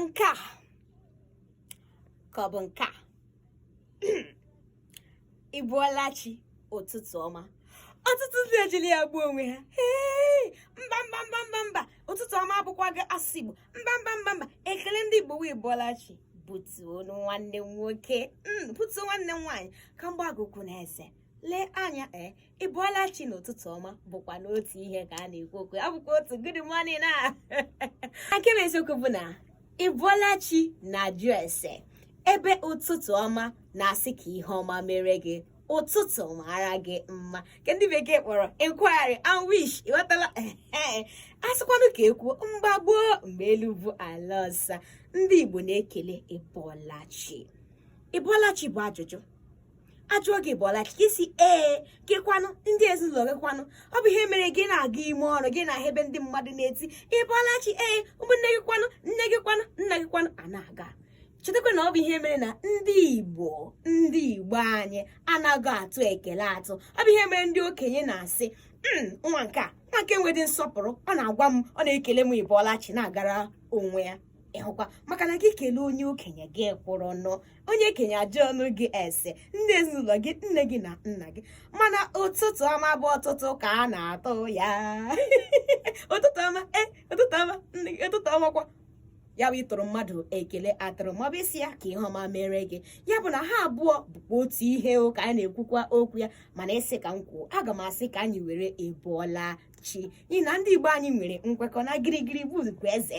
nke a ka ọ bụ nke a ị bọọla chi ụtụtụ ọma ọtụtụ ndị ejiri ya gbuo onwe ha mba mba mba mba mba ụtụtụ ọma abụkwaghị asụsụ igbo mba mba mba mba ekele ndị igbo bụ ị bọọla chi butuo nwanne m nwoke hmm, butuo nwanne m nwaanyị ka m gbaa gị okwu na eze lee anya ee eh, ị bọọla chi na ụtụtụ ọma bụkwanụ otu ihe ka a na-ekwu okwu ya bụkwa otu good morning na nke bụ eziokwu bụ na ị bọọla chi na-ajụ ese ebe ụtụtụ ọma na-asị ka ihe ọma mere gị ụtụtụ mara gị mma ka ndị bekee kpọrọ inquiry and wish ị ghọtala a sịkwanụ ka e kwuo mgbe gboo mgbe elu bụ ala ọsa ndị Igbo na-ekele ị bọọla chi ị bọọla chi bụ ajụjụ a jụọ gị ị bọọla chi gị sị ee gị kwanụ ndị ezinụlọ gị kwanụ ọ bụ ihe mere gị na-aga ime ọrụ gị na-ahụ ebe ndị mmadụ na-eti ị bọọla chi ee ụmụnne gị kwanụ nne gị kwanụ nna gị kwanụ a na-aga chetakwa na ọ bụ ihe mere na ndị igbo ndị igbo anyị anaghị atụ ekele atụ ọ bụ ihe mere ndị okenye na-asị hmm, nwa nke a nwa nke a nwedị nsọpụrụ ọ na-agwa m ọ na-ekele m ị bọọla chi na-agara onwe ya ị hụkwa maka na gị kelee onye okenye gị kwụrụnụ onye okenye ajụọnụ gị ese ndị ezinụlọ gị nne gị na nna gị mana ụtụtụ ọma bụ ọtụtụ ka a na-atụ ya ụtụtụ ọma e ụtụtụ ọma nne gị ụtụtụ ọma kwa ya bụ ịtụrụ mmadụ ekele atụrụ maọbụ ịsị ya ka ihe ọma mere gị ya bụ na ha abụọ bụkwa otu ihe ka a na-ekwukwa okwu ya mana ị sị ka m kwuo aga m asị ka anyị were ị bọọla chi n'ihi na ndị Igbo anyị nwere nkwekọ na girigiri bụ eze